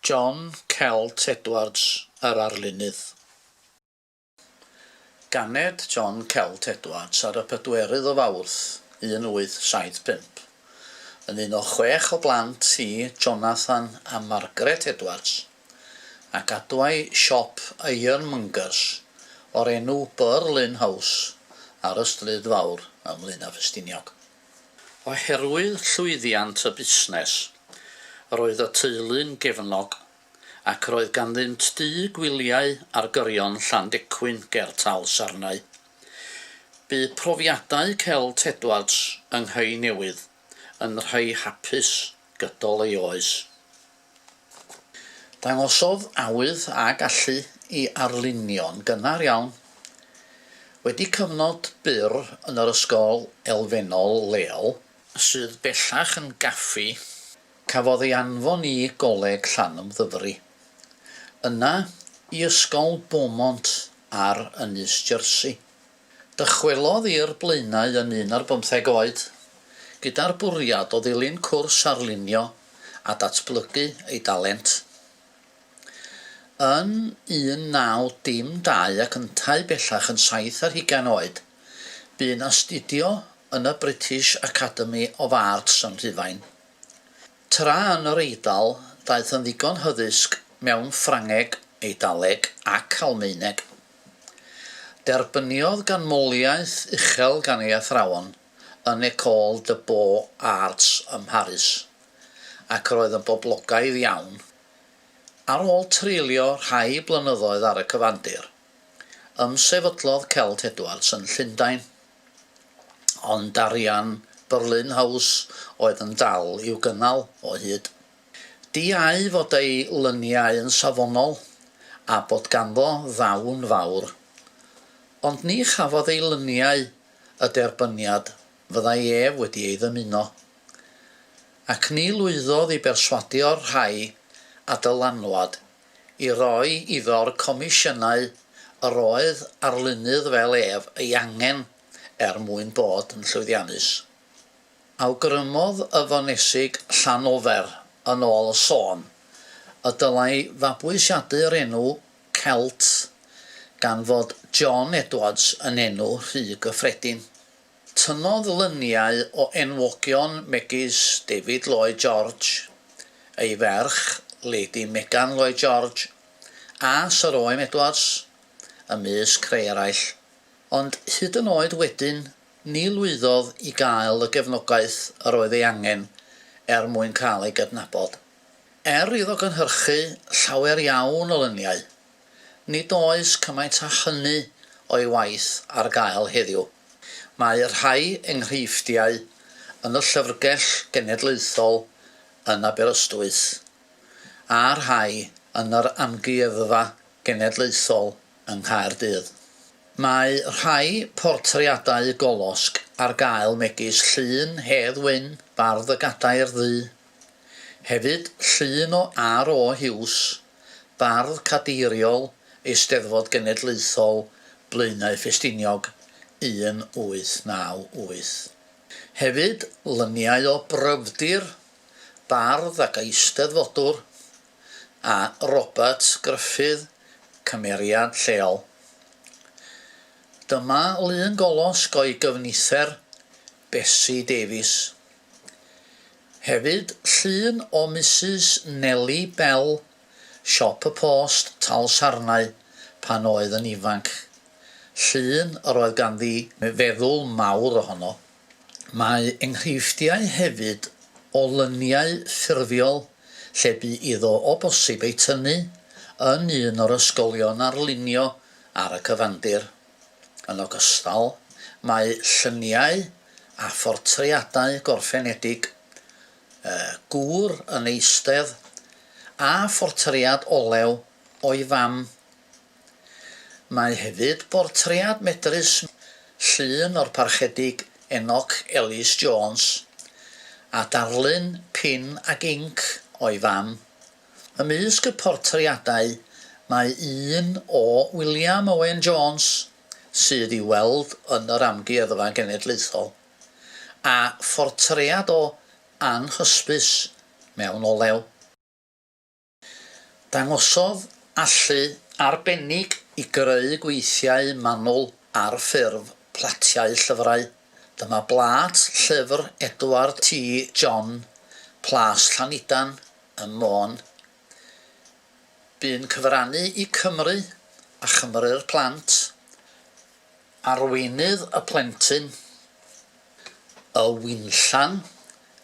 John Celt Edwards, yr arlunydd. Ganed John Celt Edwards ar y pedwerydd o Fawrth 1875. Yn un o chwech o blant i Jonathan a Margaret Edwards, a gadwai siop ironmongers o'r enw Berlin House ar y Stryd Fawr ym Mlaenau Ffestiniog. Oherwydd llwyddiant y busnes, roedd y teulu'n gefnog ac roedd ganddynt dŷ gwyliau ar gyrion Llandecwyn ger Tal Sarnau. Bu profiadau Celt Edwards yng Nghae Newydd yn rhai hapus gydol ei oes. Dangosodd awydd a gallu i arlunio'n gynnar iawn. Wedi cyfnod byr yn yr ysgol elfennol leol, sydd bellach yn gaffi, cafodd ei anfon i Goleg Llanymddyfri, yna i Ysgol Beaumont ar Ynys Jersey. Dychwelodd i'r Blaenau yn un ar bymtheg oed, gyda'r bwriad o ddilyn cwrs arlunio a datblygu ei dalent. Yn 1912 ac yntau bellach yn saith ar hugain oed, bu'n astudio yn y British Academy of Arts yn Rhufain. Tra yn yr Eidal, daeth yn ddigon hyddysg mewn Ffrangeg, Eidaleg ac Almaeneg. Derbyniodd ganmoliaeth uchel gan ei athrawon yn École de Beaux Arts ym Mharis, ac roedd yn boblogaidd iawn. Ar ôl treulio rhai blynyddoedd ar y cyfandir, ymsefydlodd Celt Edwards yn Llundain, ond arian Berlin House oedd yn dal i'w gynnal o hyd. Diau fod ei lyniau yn safonol, a bod ganddo ddawn fawr. Ond ni chafodd ei lyniau y derbyniad fyddai ef wedi ei ddymuno. Ac ni lwyddodd i berswadio'r rhai a dylanwad i roi iddo'r comisiynau yr oedd arlunydd fel ef ei angen er mwyn bod yn llwyddiannus. Awgrymodd y Fonesig Llanofer, yn ôl y sôn, y dylai fabwysiadu'r enw 'Celt' gan fod 'John Edwards' yn enw rhy gyffredin. Tynnodd luniau o enwogion megis David Lloyd George, ei ferch, Lady Megan Lloyd George, a Syr Owen Edwards, ymysg rhai eraill, ond hyd yn oed wedyn Ni lwyddodd i gael y gefnogaeth yr oedd ei angen er mwyn cael ei gydnabod. Er iddo gynhyrchu llawer iawn o luniau, nid oes cymaint â hynny o'i waith ar gael heddiw. Mae rhai enghreifftiau yn y Llyfrgell Genedlaethol yn Aberystwyth, a rhai yn yr Amgueddfa Genedlaethol yng Nghaerdydd. Mae rhai portreadau golosg ar gael megis llun Hedd Wyn, bardd y Gadair Ddu. Hefyd llun o RO Hughes, bardd cadeiriol Eisteddfod Genedlaethol Blaenau Ffestiniog 1898. Hefyd luniau o Bryfdir, bardd ac eisteddfodwr. a Robert Gruffydd, cymeriad lleol. Dyma lun golosg o'i gyfnither, Bessie Davies. Hefyd llun o Misus Nellie Bell, Siop y Post, Talsarnau, pan oedd yn ifanc. Llun yr oedd ganddi feddwl mawr ohono. Mae enghreifftiau hefyd o lyniau ffurfiol lle bu iddo o bosib ei tynnu yn un o'r ysgolion arlunio ar y cyfandir. Yn ogystal, mae lluniau a phortreadau gorffenedig, y gŵr yn eistedd, a phortread olew o'i fam Mae hefyd bortread medrus llun o'r Parchedig Enoch Ellis Jones a darlun pin ag inc o'i fam. Ymysg y portreadau mae un o William Owen Jones, sydd i'w weld yn yr Amgueddfa Genedlaethol, a phortread o Ann Hysbys mewn olew. Dangosodd allu arbennig i greu gweithiau manwl ar ffurf platiau llyfrau. Dyma blât llyfr Edward T. John, Plas Llanidan ym Môn. Bu'n cyfrannu i Cymru a Chymru'r Plant, Arweinydd y Plentyn, Y Winllan,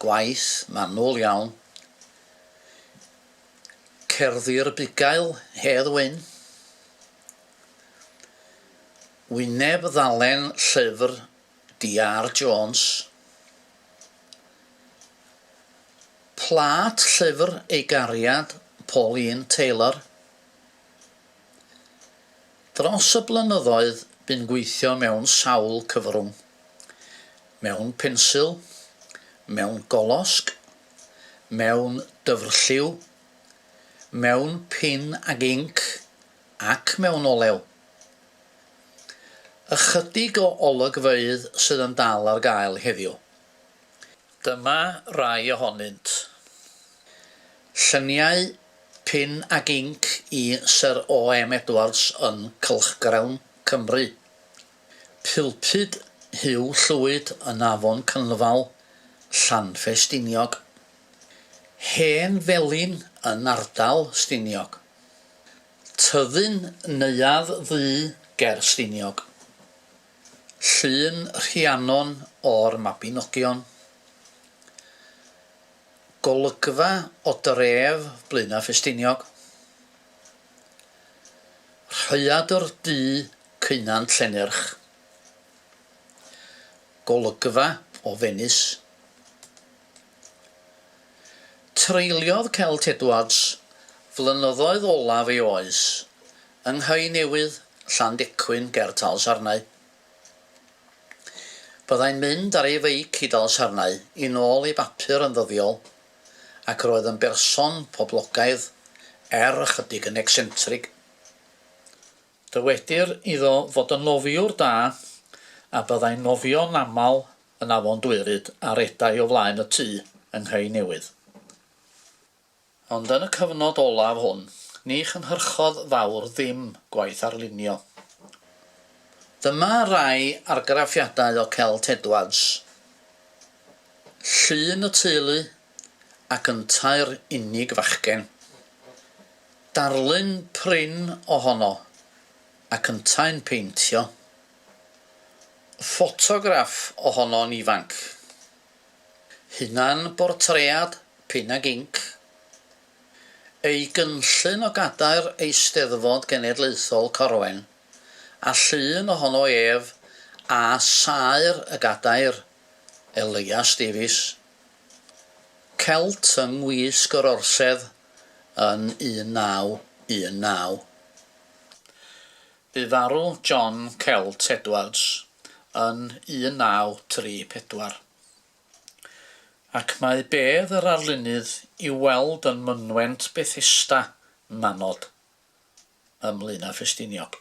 gwaith manwl iawn, Cerddi'r Bugail, Hedd Wyn. Wyneb ddalen llyfr DR Jones. Plât llyfr ei gariad Pauline Taylor. Dros y blynyddoedd bu'n gweithio mewn sawl cyfrwng, mewn pensil, mewn golosg, mewn dyfrlliw, mewn pin ag inc ac mewn olew. Ychydig o olygfeydd sydd yn dal ar gael heddiw. Dyma rai ohonynt. Lluniau pin ag inc i Syr OM Edwards yn cylchgrawn Cymru, Pulpud Huw Llwyd yn Afon Cynlfal, Llanfestiniog. Hen Felin yn ardal Stiniog. Tyddyn Neuadd Ddu ger Stiniog. Llun Rhiannon o'r Mabinogion. Golygfa o dref Blaenau Ffestiniog. Rhaeadr du Cynan Llennerch, golygfa o Fenis. Treuliodd Celt Edwards flynyddoedd olaf ei oes yng Nghae Newydd, Llandecwyn ger Talsarnau. Byddai'n mynd ar ei feic i Dalsarnau i nôl ei bapur yn ddyddiol ac roedd yn berson poblogaidd er ychydig yn ecsentrig. Dywedir iddo fod yn nofiwr da a byddai'n nofio'n aml yn Afon Dwyryd a redai o flaen y tŷ yng Nghei Newydd. Ond yn y cyfnod olaf hwn, ni chynhyrchodd fawr ddim gwaith arlunio. Dyma rai argraffiadau o Celt Edwards. Llun y teulu ac yntau'r unig fachgen. Darlun prin ohono ac yntau'n peintio. Ffotograff ohono'n ifanc. Hunan bortread, pin ag inc. Ei gynllun o gadair Eisteddfod Genedlaethol Corwen a llun ohono ef a saer y gadair. Elias Davies, Celt yng ngwisg yr Orsedd yn 1919. Bu farw John Celt Edwards yn 1934. Ac mae bedd yr arlunydd i'w weld yn mynwent Bethesda, Manod, ym Mlaenau Ffestiniog.